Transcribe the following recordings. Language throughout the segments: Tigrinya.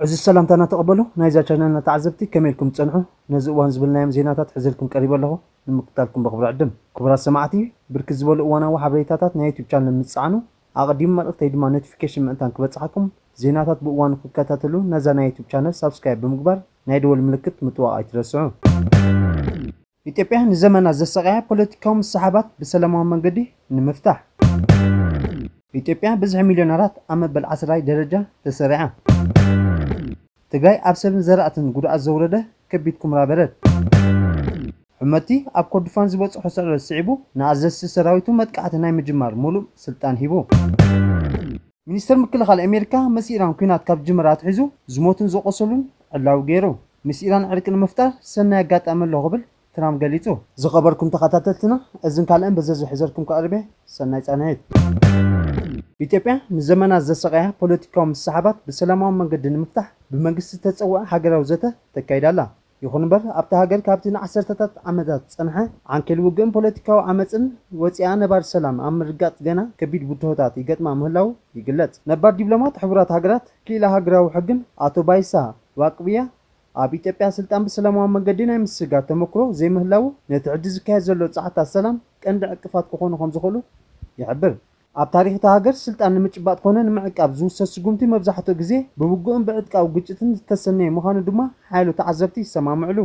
ዕዙዝ ሰላምታና ተቐበሉ ናይዛ ቻነልና ተዓዘብቲ ከመይ ኢልኩም ትጸንሑ ነዚ እዋን ዝብልናዮም ዜናታት ሕዘልኩም ቀሪበ ኣለኹ ንምክታልኩም በኽብሪ ዕድም ክቡራት ሰማዕቲ ብርክት ዝበሉ እዋናዊ ሓበሬታታት ናይ ዩቱብ ቻነል ምስ ትጸዓኑ ኣቐዲሙ መልእኽተይ ድማ ኖቲፊኬሽን ምእንታን ክበጽሓኩም ዜናታት ብእዋኑ ክትከታተሉ ነዛ ናይ ዩቱብ ቻነል ሳብስክራይብ ብምግባር ናይ ደወል ምልክት ምጥዋቕ ኣይትረስዑ። ኢትዮጵያ ንዘመናት ዘሳቐያ ፖለቲካዊ ምስሕሓባት ብሰላማዊ መንገዲ ንምፍታሕ። ኢትዮጵያ ብዝሒ ሚልዮነራት ኣብ መበል ዓስራይ ደረጃ ተሰሪዓ። ትግራይ ኣብ ሰብን ዘራእትን ጉድኣት ዘውረደ ከቢድ ኩምራ በረድ። ሑመቲ ኣብ ኮርዱፋን ዝበፅሖ ስዕረት ስዒቡ ንኣዘዝቲ ሰራዊቱ መጥቃዕቲ ናይ ምጅማር ሙሉእ ስልጣን ሂቡ። ሚኒስተር ምክልኻል ኣሜሪካ ምስ ኢራን ኲናት ካብ ዝጅምር ኣትሒዙ ዝሞቱን ዝቖሰሉን ዕላዊ ገይሩ። ምስ ኢራን ዕርቂ ንምፍጣር ሰናይ ኣጋጣሚ ኣሎ ክብል ትራም ገሊጹ። ዝኸበርኩም ተኸታተልትና እዝን ካልእን በዘዙ ሕዘልኩም ክቐርብ እየ። ሰናይ ጻንሒት። ኢትዮጵያ ንዘመናት ዘሰቐያ ፖለቲካዊ ምስሕሓባት ብሰላማዊ መንገዲ ንምፍታሕ ብመንግስቲ ዝተጸውዐ ሃገራዊ ዘተ ተካይድ ኣላ። ይኹን እምበር ኣብታ ሃገር ካብቲ ንዓሰርተታት ዓመታት ዝጸንሐ ዓንኬል ውግእን ፖለቲካዊ ዓመጽን ወጺኣ ነባሪ ሰላም ኣብ ምርግጋጽ ገና ከቢድ ብድሆታት ይገጥማ ምህላዉ ይግለጽ። ነባር ዲብሎማት ሕቡራት ሃገራት ክኢላ ሃገራዊ ሕግን ኣቶ ባይሳ ዋቅብያ ኣብ ኢትዮጵያ ስልጣን ብሰላማዊ መንገዲ ናይ ምስግጋር ተመክሮ ዘይምህላዉ ነቲ ሕጂ ዝካየድ ዘሎ ጻዕርታት ሰላም ቀንዲ ዕንቅፋት ክኾኑ ከምዝኽእሉ ይሕብር። ኣብ ታሪኽ እታ ሃገር ስልጣን ንምጭባጥ ኮነ ንምዕቃብ ዝውሰድ ስጉምቲ መብዛሕትኡ ግዜ ብውግእን ብዕጥቃዊ ግጭትን ዝተሰነየ ምዃኑ ድማ ሓያሎ ተዓዘብቲ ይሰማምዕሉ።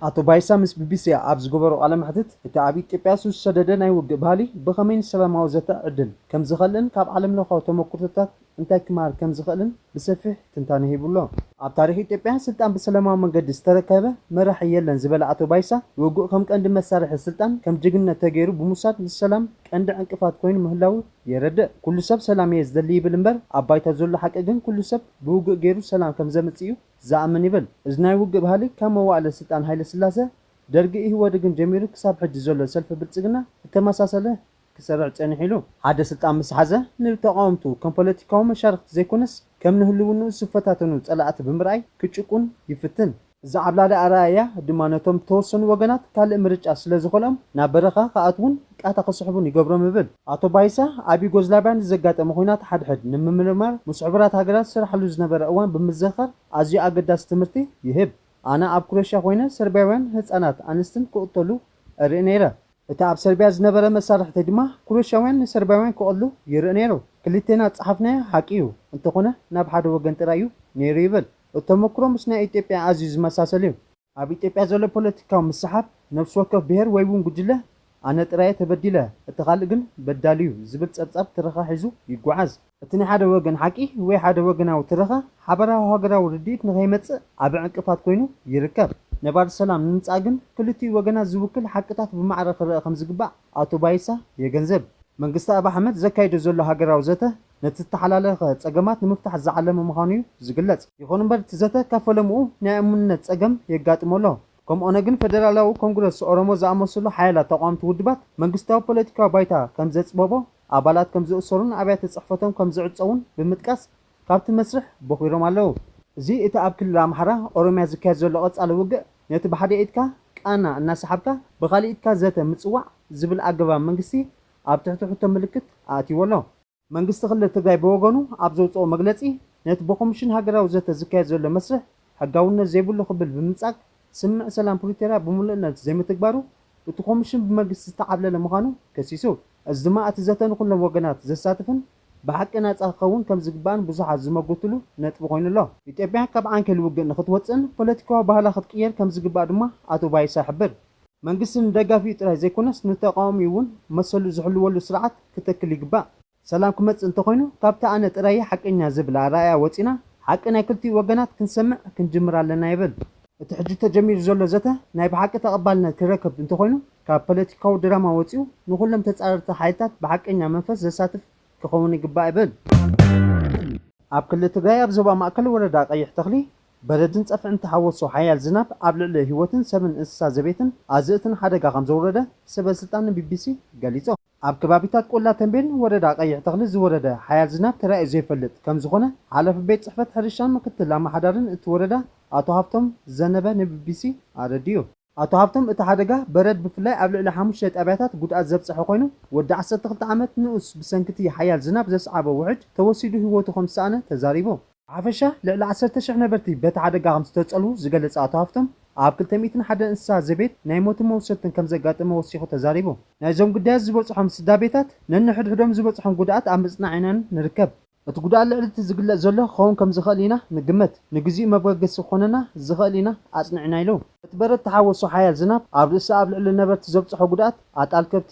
ኣቶ ባይሳ ምስ ቢቢሲ ኣብ ዝገበሮ ቃለ መሕትት፣ እቲ ኣብ ኢትዮጵያ ሱስ ዝሰደደ ናይ ውግእ ባህሊ ብኸመይ ንሰላማዊ ዘተ ዕድል ከምዝኸልእን ካብ ዓለምለኻዊ ተመኩርቶታት እንታይ ክመሃር ከም ዝኽእልን ብሰፊሕ ትንታነ ሂቡ ኣሎ። ኣብ ታሪኽ ኢትዮጵያ ስልጣን ብሰለማዊ መንገዲ ዝተረከበ መራሒ የለን ዝበለ ኣቶ ባይሳ፣ ውግእ ከም ቀንዲ መሳርሒ ስልጣን ከም ጅግንነት ተገይሩ ብምውሳድ ንሰላም ቀንዲ ዕንቅፋት ኮይኑ ምህላዉ የረድእ። ኩሉ ሰብ ሰላም እየ ዝደሊ ይብል እምበር ኣብ ባይታ ዘሎ ሓቂ ግን ኩሉ ሰብ ብውግእ ገይሩ ሰላም ከም ዘምጽእ እዩ ዝኣምን ይብል። እዚ ናይ ውግእ ባህሊ ካብ መዋእለ ስልጣን ሃይለስላሰ፣ ደርጊ፣ ኢህወደግን ጀሚሩ ክሳብ ሕጂ ዘሎ ሰልፊ ብልጽግና እተመሳሰለ ክሰርዕ ጸኒሑ ኢሉ። ሓደ ስልጣን ምስ ሓዘ ንተቓወምቱ ከም ፖለቲካዊ መሻርኽቲ ዘይኮነስ ከም ንህልውንኡ ዝፈታተኑ ጸላእቲ ብምርኣይ ክጭቁን ይፍትን። እዚ ዓብላሊ ኣረኣእያ ድማ ነቶም ዝተወሰኑ ወገናት ካልእ ምርጫ ስለ ዝኸልኦም ናብ በረኻ ክኣትዉን ቃታ ክስሕቡን ይገብሮም እብል። ኣቶ ባይሳ ኣብ ዩጎዝላቭያ ንዘጋጠመ ኹናት ሓድሕድ ንምምርማር ምስ ሕቡራት ሃገራት ዝሰርሓሉ ዝነበረ እዋን ብምዝኽኻር ኣዝዩ ኣገዳሲ ትምህርቲ ይህብ። ኣነ ኣብ ኩረሽያ ኮይነ ሰርብያውያን ህጻናት ኣንስትን ክቕተሉ እርኢ ነይረ። እቲ ኣብ ሰርብያ ዝነበረ መሳርሕተይ ድማ ኩሮሽያውያን ንሰርብያውያን ክቐሉ ይርኢ ነይሩ። ክልቴና ዝጸሓፍናዮ ሓቂ እዩ፣ እንተኾነ ናብ ሓደ ወገን ጥራይ እዩ ነይሩ ይብል። እቲ ተመኩሮ ምስ ናይ ኢትዮጵያ ኣዝዩ ዝመሳሰል እዩ። ኣብ ኢትዮጵያ ዘሎ ፖለቲካዊ ምስሕሓብ፣ ነፍሲ ወከፍ ብሄር ወይ'ውን ጉጅለ ኣነ ጥራይ'የ ተበዲለ፣ እቲ ካልእ ግን በዳሊ'ዩ ዝብል ጸብጻብ ትረኻ ሒዙ ይጓዓዝ። እቲ ናይ ሓደ ወገን ሓቂ ወይ ሓደ ወገናዊ ትረኻ ሓበራዊ ሃገራዊ ርድኢት ንኸይመጽእ ዓቢ ዕንቅፋት ኮይኑ ይርከብ። ነባሪ ሰላም ንምምጻእ ግን ክልቲኡ ወገናት ዝውክል ሓቅታት ብማዕረ ክረኣ ከምዝግባእ ኣቶ ባይሳ የገንዘብ። መንግስቲ ኣብይ ኣሕመድ ዘካይዶ ዘሎ ሃገራዊ ዘተ ነቲ ዝተሓላለኸ ጸገማት ንምፍታሕ ዝዓለመ ምዃኑ'ዩ ዝግለጽ። ይኹን'ምበር እቲ ዘተ ካብ ፈለምኡ ናይ እሙንነት ጸገም የጋጥሞ ኣሎ። ከም ኦነግን ፈደራላዊ ኮንግረስ ኦሮሞ ዝኣመሰሉ ሓያላት ተቓወምቲ ውድባት መንግስታዊ ፖለቲካዊ ባይታ ከምዘጽበቦ፣ ኣባላት ከም ዝእሰሩን ኣብያተ ጽሕፈቶም ከም ዝዕጸዉን ብምጥቃስ ካብቲ መስርሕ ቦኺሮም ኣለዉ። እዚ እቲ ኣብ ክልል ኣምሓራ፣ ኦሮምያ ዝካየድ ዘሎ ቀጻሊ ውግእ ነቲ ብሓደ ኢድካ ቃና እናሰሓብካ ብኻልእ ኢድካ ዘተ ምጽዋዕ ዝብል ኣገባብ መንግስቲ ኣብ ትሕቲ ሕቶ ምልክት ኣእትይዎ ኣሎ። መንግስቲ ክልል ትግራይ ብወገኑ ኣብ ዘውጽኦ መግለጺ ነቲ ብኮምሽን ሃገራዊ ዘተ ዝካየድ ዘሎ መስርሕ ሕጋውነት ዘይብሉ ክብል ብምንጻግ፣ ስምምዕ ሰላም ፕሪቶርያ ብምሉእነት ዘይምትግባሩ፣ እቲ ኮምሽን ብመግስቲ ዝተዓብለለ ምዃኑ ከሲሱ። እዚ ድማ እቲ ዘተ ንኹሎም ወገናት ዘሳትፍን ብሓቂ ናጻ ክኸውን ከም ዝግባእን ብዙሓት ዝመጉትሉ ነጥቢ ኮይኑ ኣሎ። ኢትዮጵያ ካብ ዓንኬል ውግእ ንኽትወጽእን ፖለቲካዊ ባህላ ክትቅይር ከም ዝግባእ ድማ ኣቶ ባይሳ ይሕብር። መንግስቲ ንደጋፊኡ ጥራይ ዘይኮነስ ንተቓዋሚኡ'ውን መሰሉ ዝሕልወሉ ስርዓት ክትክል ይግባእ። ሰላም ክመጽእ እንተኾይኑ ካብቲ ኣነ ጥራይ'የ ሓቀኛ ዝብል ኣረኣእያ ወጺእና ሓቂ ናይ ክልቲኡ ወገናት ክንሰምዕ ክንጅምር ኣለና ይብል። እቲ ሕጂ ተጀሚሩ ዘሎ ዘተ ናይ ብሓቂ ተቐባልነት ክረክብ እንተኾይኑ ካብ ፖለቲካዊ ድራማ ወጺኡ ንኹሎም ተጻረርቲ ሓይልታት ብሓቀኛ መንፈስ ዘሳትፍ ክኸውን ይግባእ ይብል። ኣብ ክልል ትግራይ ኣብ ዞባ ማእከል ወረዳ ቀይሕ ተኽሊ በረድን ጸፍዕን እተሓወሶ ሓያል ዝናብ ኣብ ልዕሊ ህይወትን ሰብን እንስሳ ዘቤትን ኣዝርእትን ሓደጋ ከምዘውረደ ሰበስልጣን ንቢቢሲ ገሊጾም። ኣብ ከባቢታት ቆላ ተምቤን ወረዳ ቀይሕ ተኽሊ ዝወረደ ሓያል ዝናብ ተራእዩ ዘይፈልጥ ከምዝኾነ ሓላፊ ቤት ፅሕፈት ሕርሻን ምክትል ኣመሓዳርን እቲ ወረዳ ኣቶ ሃፍቶም ዘነበ ንቢቢሲ ኣረዲኡ። ኣቶ ሃፍቶም እቲ ሓደጋ በረድ ብፍላይ ኣብ ልዕሊ ሓሙሽተ ጣብያታት ጉድኣት ዘብፀሐ ኮይኑ ወዲ ዓሰርተ ክልተ ዓመት ንኡስ ብሰንኪ እቲ ሓያል ዝናብ ዘስዓቦ ውሕጅ ተወሲዱ ህይወቱ ከምዝሰኣነ ተዛሪቡ። ብሓፈሻ ልዕሊ ዓሰርተ ሽሕ ነበርቲ በቲ ሓደጋ ከምዝተጸልዉ ዝገለጸ ኣቶ ሃፍቶም፣ ኣብ ክልተ ሚእትን ሓደን እንስሳ ዘቤት ናይ ሞትን መውሰድትን ከምዘጋጠመ ወሲኹ ተዛሪቡ። ናይዞም ግዳያት ዝበጽሖም ስዳቤታት ነንሕድሕዶም ዝበጽሖም ጉድኣት ኣብ ምጽናዕ ኢና ንርከብ። እቲ ጉድኣት ልዕሊ እቲ ዝግለጽ ዘሎ ክኸውን ከምዝኽእል ኢና ንግመት። ንግዚኡ መበገሲ ክኾነና ዝኽእል ኢና ኣጽኒዕና ኢሉ። እቲ በረድ ተሓወሶ ሓያል ዝናብ ኣብ ርእሲ ኣብ ልዕሊ ነበርቲ ዘብጽሖ ጉድኣት፣ ኣጣል ከብቲ፣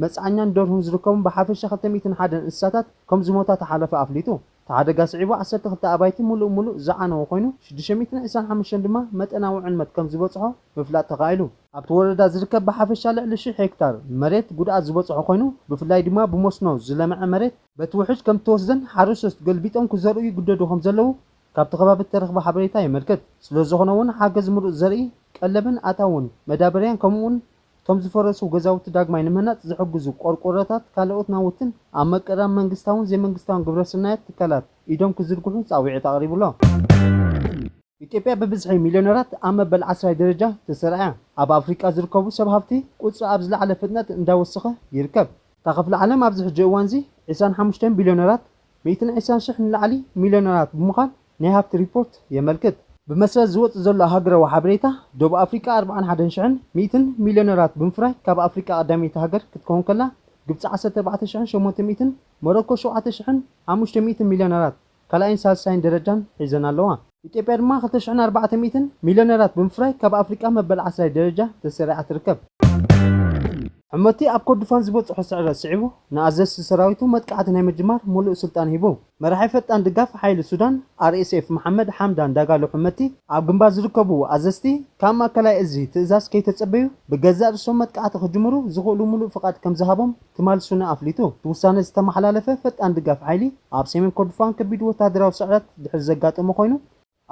መጽዓኛን ደርሁን ዝርከቦም ብሓፈሻ ክልተ ሚእትን ሓደን እንስሳታት ከም ዝሞታ እቲ ሓላፊ ኣፍሊጡ። እቲ ሓደጋ ስዒቡ ዓሰርተ ክልተ ኣባይቲ ምሉእ ምሉእ ዝዓነወ ኮይኑ፣ ሽዱሽተ ሚእትን ዕስራን ሓሙሽተን ድማ መጠናዊ ዕንመት ከም ዝበጽሖ ምፍላጥ ተኻኢሉ። ኣብቲ ወረዳ ዝርከብ ብሓፈሻ ልዕሊ ሽሕ ሄክታር መሬት ጉድኣት ዝበጽሖ ኮይኑ፣ ብፍላይ ድማ ብመስኖ ዝለምዐ መሬት፣ በቲ ውሕጅ ከም እተወስደን ሓረስቶት ገልቢጦም ክዘርኡ ይግደዱ ከም ዘለዉ ካብቲ ከባቢ እተረኽበ ሓበሬታ የመልክት። ስለ ዝኾነ እውን ሓገዝ ምሩጽ ዘርኢ፣ ቀለብን ኣታውን መዳበርያን ከምኡውን እቶም ዝፈረሱ ገዛውቲ ዳግማይ ንምህናፅ ዝሕግዙ ቆርቆሮታት፣ ካልኦት ናውትን ኣብ መቀራን መንግስታውን ዘይመንግስታውን ግብረስናያት ትካላት ኢዶም ክዝርግሑ ፃውዒት ኣቕሪቡ'ሎ። ኢትዮጵያ ብብዝሒ ሚልዮነራት ኣብ መበል ዓስራይ ደረጃ ተሰራዕያ፣ ኣብ ኣፍሪቃ ዝርከቡ ሰብ ሃፍቲ ቁፅሪ ኣብ ዝለዓለ ፍጥነት እንዳወሰኸ ይርከብ። እታ ክፍሊ ዓለም ኣብዚ ሕጂ እዋን'ዚ ዕስራን ሓሙሽተን ቢልዮነራት ሚእትን ዕስራን ሽሕ ንላዕሊ ሚልዮነራት ብምዃን ናይ ሃብቲ ሪፖርት የመልክት። ብመሰረት ዝወጽእ ዘሎ ሃገረዊ ሓበሬታ፣ ደቡብ ኣፍሪቃ ኣርብዓን ሓደን ሽሕን ሚእትን ሚልዮነራት ብምፍራይ ካብ ኣፍሪቃ ቀዳመይቲ ሃገር ክትከውን ከላ፣ ግብጺ ዓሰርተ ኣርባዕተ ሽሕን ሸሞንተ ሚእትን፣ ሞሮኮ ሸውዓተ ሽሕን ሓሙሽተ ሚእትን ሚልዮነራት ካልኣይን ሳልሳይን ደረጃን ሒዘን ኣለዋ። ኢትዮጵያ ድማ ክልተ ሽሕን ኣርባዕተ ሚእትን ሚልዮነራት ብምፍራይ ካብ ኣፍሪቃ መበል ዓስራይ ደረጃ ተሰሪዓ ትርከብ። ሑመቲ ኣብ ኮርዱፋን ዝበጽሖ ስዕረት ስዒቡ ንኣዘዝቲ ሰራዊቱ መጥቃዕቲ ናይ ምጅማር ሙሉእ ስልጣን ሂቡ። መራሒ ፈጣን ድጋፍ ሓይሊ ሱዳን፣ RSF፣ መሓመድ ሓምዳን ዳጋሎ ሕመቲ፣ ኣብ ግንባር ዝርከቡ ኣዘዝቲ ካብ ማእከላይ እዚ ትእዛዝ ከይተጸበዩ ብገዛእ ርእሶም መጥቃዕቲ ክጅምሩ ዝኽእሉ ምሉእ ፍቓድ ከምዝሃቦም ትማል ሱና ኣፍሊጡ። እቲ ውሳነ ዝተመሓላለፈ ፈጣን ድጋፍ ሓይሊ ኣብ ሰሜን ኮርዶፋን ከቢድ ወተሃደራዊ ስዕረት ድሕሪ ዘጋጠሞ ኮይኑ፣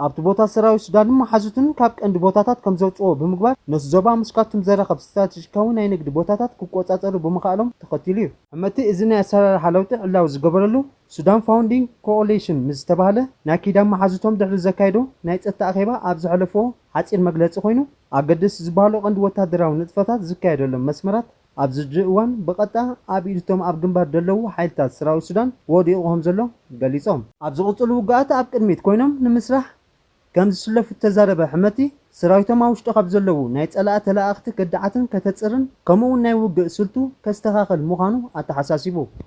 ኣብቲ ቦታ ሰራዊት ሱዳንን መሓዙቱን ካብ ቀንዲ ቦታታት ከምዘውጽእዎ ብምግባር ነቲ ዞባ ምስ ካርቱም ዘራኽብ ስትራተጂካዊ ናይ ንግዲ ቦታታት ክቆጻጸሩ ብምኽኣሎም ተኸቲሉ እዩ። ሕመቲ እዚ ናይ ኣሰራርሓ ለውጢ ዕላዊ ዝገበረሉ፣ ሱዳን ፋውንዲንግ ኮኦሊሽን ምስ ዝተባህለ ናይ ኪዳን መሓዙቶም ድሕሪ ዘካየዶ ናይ ጸጥታ ኣኼባ ኣብ ዘሕለፍዎ ሓጺር መግለጺ ኮይኑ፣ ኣገደስቲ ዝበሃሉ ቀንዲ ወተሃደራዊ ንጥፈታት ዝካየደሎም መስመራት ኣብዚ ሕጂ እዋን ብቐጥታ ኣብ ኢድ እቶም ኣብ ግንባር ደለዉ ሓይልታት ሰራዊት ሱዳን ወዲቑ ከምዘሎ ገሊጾም። ኣብ ዝቕጽሉ ውግኣት ኣብ ቅድሚት ኮይኖም ንምስራሕ ከምዝስለፉ እተዛረበ ሕመቲ፣ ሰራዊቶም ኣብ ውሽጢ ካብ ዘለዉ ናይ ጸላኢ ተለኣኣኽቲ ከዳዓትን ከተጽርን ከምኡ'ውን ናይ ውግእ ስልቱ ከስተኻኽል ምዃኑ ኣተሓሳሲቡ።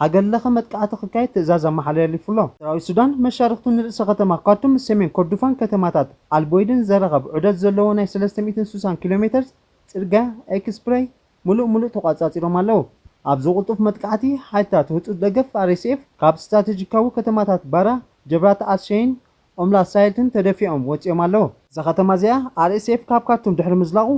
ሃገር ለኸ መጥቃዕቲ ክካየድ ትእዛዝ ኣመሓለሊፉ'ሎ። ሰራዊት ሱዳን መሻርኽቱ ንርእሰ ከተማ ካርቱም፣ ሰሜን ኮርዱፋን ከተማታት ኣልቦይድን ዘራኽብ ዑደት ዘለዎ ናይ ሰለስተ ሚእትን ስሳን ኪሎ ሜተርስ ጽርግያ፣ ኤክስፕረይ፣ ምሉእ ምሉእ ተቋጻጺሮም ኣለዉ። ኣብዚ ቅልጡፍ መጥቃዕቲ፣ ሓይልታት ህጹጽ ደገፍ፣ RSF፣ ካብ ስትራተጂካዊ ከተማታት ባራ፣ ጀብራት ኣል-ሸይን፣ ኦምላሳይልትን ተደፊኦም ወጺኦም ኣለዉ። እዛ ከተማ እዚኣ RSF ካብ ካርቱም ድሕሪ ምዝላቑ፣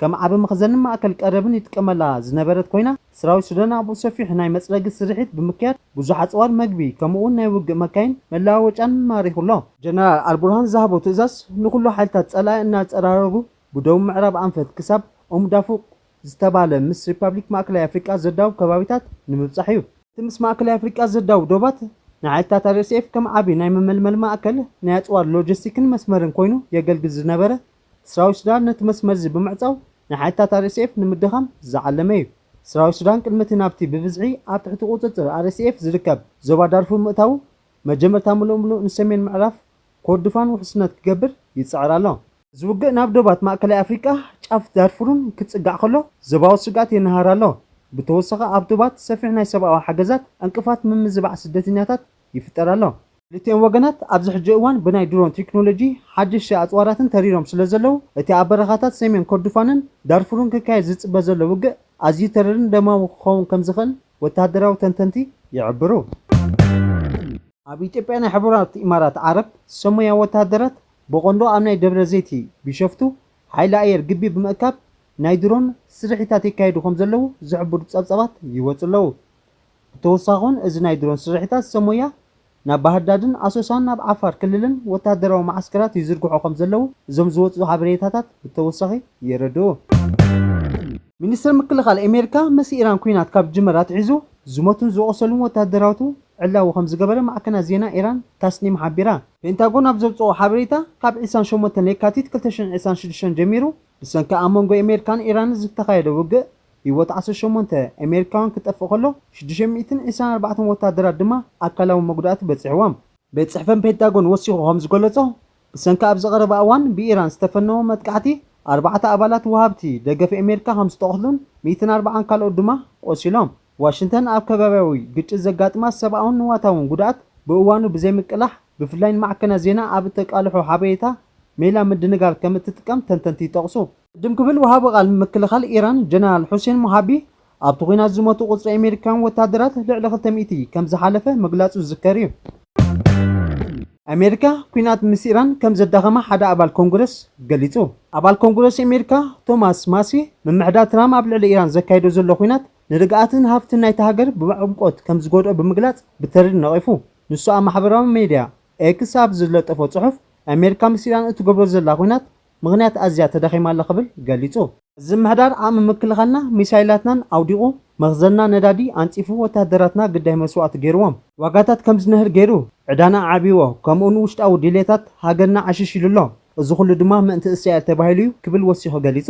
ከም ዓቢ መኽዘንን ማእከል ቀረብን ይጥቀመላ ዝነበረት ኮይና፣ ሰራዊት ሱዳን ኣብኡ ሰፊሕ ናይ መጽረጊ ስርሒት ብምክያድ ብዙሕ ኣጽዋር፣ መግቢ፣ ከምኡ'ውን ናይ ውግእ መካይን መለዋወጫን ማሪኹ ኣሎ። ጀነራል ኣልቡርሃን ዝሃቦ ትእዛዝ ንኹሉ ሓይልታት ጸላኢ እናጸራረጉ ብደቡብ ምዕራብ ኣንፈት ክሳብ ኡም ዳፉቅ ዝተባህለ ምስ ሪፓብሊክ ማእከላይ ኣፍሪቃ ዘዳውብ ከባቢታት ንምብጻሕ እዩ። እቲ ምስ ማእከላይ ኣፍሪቃ ዘዳውብ ዶባት ንሓይልታት RSF ከም ዓቢ ናይ መመልመሊ ማእከል፣ ናይ ኣጽዋር ሎጂስቲክን መስመርን ኮይኑ የገልግል ዝነበረ ሰራዊት ሱዳን ነቲ መስመር'ዚ ብምዕጻው ንሓይልታት RSF ንምድኻም ዝዓለመ'ዩ። ሰራዊት ሱዳን ቅድሚ'ቲ ናብቲ ብብዝሒ ኣብ ትሕቲ ቁጽጽር RSF ዝርከብ ዞባ ዳርፉር ምእታዉ፣ መጀመርታ ምሉእ ምሉእ ንሰሜን ምዕራፍ ኮርዱፋን ውሕስነት ክገብር ይጽዕር ኣሎ። እዚ ውግእ ናብ ዶባት ማእከላይ ኣፍሪቃ፣ ጫፍ ዳርፉርን ክጽጋዕ ከሎ ዞባዊ ስግኣት የነሃር ኣሎ። ብተወሳኺ ኣብ ዶባት ሰፊሕ ናይ ሰብኣዊ ሓገዛት፣ ዕንቅፋት ምምዝባዕ ስደተኛታት፣ ይፍጠር ኣሎ። ክልቲኦም ወገናት ኣብዚ ሕጂ እዋን ብናይ ድሮን ቴክኖሎጂ ሓደሽቲ ኣጽዋራትን ተሪሮም ስለዘለዉ፣ እቲ ኣብ በረኻታት ሰሜን ኮርዱፋንን ዳርፉርን ክካየድ ዝጽበ ዘሎ ውግእ ኣዝዩ ተሪርን ደማዊ ክኸውን ከምዝኽእል ወተሃደራዊ ተንተንቲ ይሕብሩ። ኣብ ኢትዮጵያ ናይ ሕቡራት ኢማራት ዓረብ ሰሙያ ወተሃደራት ብቐንዱ ኣብ ናይ ደብረዘይቲ ቢሸፍቱ ሓይሊ ኣየር ግቢ ብምእካብ ናይ ድሮን ስርሒታት የካይዱ ከምዘለዉ ዝሕብሩ ጸብጻባት ይወጹ ኣለዉ። ብተወሳኺውን እዚ ናይ ድሮን ስርሒታት ሰብ ሞያ ናብ ባህርዳድን ኣሶሳን ናብ ዓፋር ክልልን ወተሃደራዊ መዓስከራት ይዝርግሑ ከምዘለዉ እዞም ዝወጽኡ ሓበሬታታት ብተወሳኺ የረድኡ። ሚኒስተር ምክልኻል ኣሜሪካ ምስ ኢራን ኲናት ካብ ዝጅመር ኣትሒዙ ዝሞቱን ዝቖሰሉን ወተሃደራቱ ዕላዊ ከምዝገበረ ማዕከናት ዜና ኢራን ታስኒም ሓቢራ። ፔንታጎን ኣብ ዘውጽኦ ሓበሬታ ካብ ዕስራን ሸሞንተን ለካቲት ክልተ ሽሕን ዕስራን ሽዱሽተን ጀሚሩ ብሰንኪ ኣብ መንጎ ኣሜሪካን ኢራንን ዝተኻየደ ውግእ፣ ህይወት ዓሰርተ ሸሞንተ ኣሜሪካውያን ክጠፍእ ከሎ፣ ሽዱሽተ ሚእትን ዒስራን ኣርባዕተን ወተሃደራት ድማ ኣካላዊ መጉዳእቲ በጺሕዎም። ቤት ጽሕፈት ፔንታጎን ወሲኹ ከም ዝገለጾ፣ ብሰንኪ ኣብዚ ቀረባ እዋን ብኢራን ዝተፈነወ መጥቃዕቲ፣ ኣርባዕተ ኣባላት ወሃብቲ ደገፍ ኣሜሪካ ከም ዝተቐትሉን ሚእትን ኣርባዓን ካልኦት ድማ ቆሲሎም። ዋሽንተን ኣብ ከባብያዊ ግጭት ዘጋጥማ ሰብኣውን ንዋታውን ጉድኣት ብእዋኑ ብዘይምቅላሕ፣ ብፍላይ ንማዕከናት ዜና ኣብ እተቃልሖ ሓበሬታ ሜላ ምድንጋር ከም እትጥቀም ተንተንቲ ይጠቕሱ። ቅድም ክብል ወሃቢ ቃል ምክልኻል ኢራን ጀነራል ሑሴን ሞሃቢ ኣብቲ ኲናት ዝሞቱ ቁጽሪ ኣሜሪካውያን ወተሃደራት ልዕሊ ክልተ ሚእቲ ከም ዝሓለፈ ምግላጹ ዝዝከር እዩ። ኣሜሪካ ኲናት ምስ ኢራን ከም ዘዳኸማ ሓደ ኣባል ኮንግረስ ገሊጹ። ኣባል ኮንግረስ ኣሜሪካ ቶማስ ማሲ ምምሕዳር ትራም ኣብ ልዕሊ ኢራን ዘካይዶ ዘሎ ኲናት ንርግኣትን ሃብትን ናይታ ሃገር ብዕምቆት ከም ዝጎድኦ ብምግላጽ ብተሪር ነቒፉ። ንሱ ኣብ ማሕበራዊ ሜድያ ኤክስ ኣብ ዝለጠፎ ጽሑፍ ኣሜሪካ ምስ ኢራን እትገብሮ ዘላ ኲናት ምኽንያት ኣዝያ ተዳኺማ ኣላ ክብል ገሊጹ። እዚ ምሕዳር ዓቕሚ ምክልኻልና ሚሳይላትናን ኣውዲቑ፣ መኽዘንና ነዳዲ ኣንጺፉ፣ ወተሃደራትና ግዳይ መስዋእቲ ገይርዎም፣ ዋጋታት ከም ዝንህር ገይሩ፣ ዕዳና ኣዕብይዎ፣ ከምኡ'ውን ውሽጣዊ ድሌታት ሃገርና ዓሽሽ ኢሉ ኣሎ፣ እዚ ኹሉ ድማ ምእንቲ እስራኤል ተባሂሉ'ዩ ክብል ወሲኹ ገሊጹ።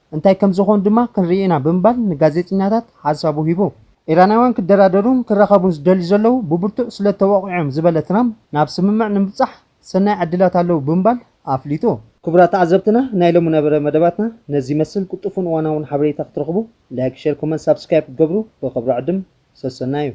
እንታይ ከም ዝኾኑ ድማ ክንርኢ ኢና ብምባል ንጋዜጠኛታት ሓሳቡ ሂቡ። ኢራናውያን ክደራደሩን ክራኸቡን ዝደልዩ ዘለዉ ብብርቱዕ ስለ እተወቕዑ'ዮም ዝበለ ትራምፕ፣ ናብ ስምምዕ ንምብጻሕ ሰናይ ዕድላት ኣለዉ ብምባል ኣፍሊጡ። ክቡራት ተዓዘብትና ናይ ሎሚ ነበረ መደባትና ነዚ ይመስል ቅልጡፉን እዋናውን ሓበሬታ ክትረኽቡ ላይክ ሸር ኮመንት ሳብስክራይብ ክትገብሩ ብኽብሪ ዕድም ሰሰናዩ።